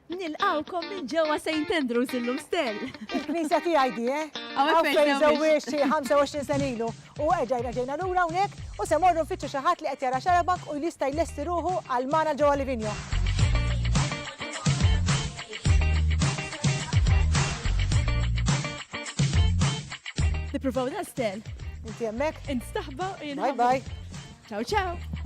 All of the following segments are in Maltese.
Nilqgħukom minn ġewwa Saint Andrew's illum stell. Il-knisja tiegħi di, eh? Hawn fejn żewwiġt xi 25 sena ilu u erġa' reġgħina lura hawnhekk u se morru nfittxu xi ħadd li qed jara xarabank u jista' jlesti ruħu għal magħna ġewwa Livigno. Nippruvaw dal-stell. Inti hemmhekk? Int staħba u jien. Bye bye. Ciao ciao.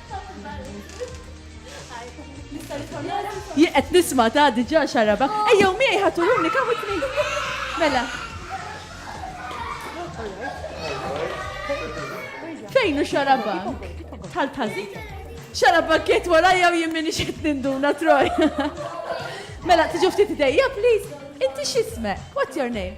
Jien qed nisma' ta' diġà xaraba. Ejjew miegħi ħaturuni kemm witni. Mela. Fejn hu xaraba? Tal tażi. Xaraba kiet warajja u jien minix qed ninduna troj. Mela tiġu ftit idejja, please. Inti x'ismek? What's your name?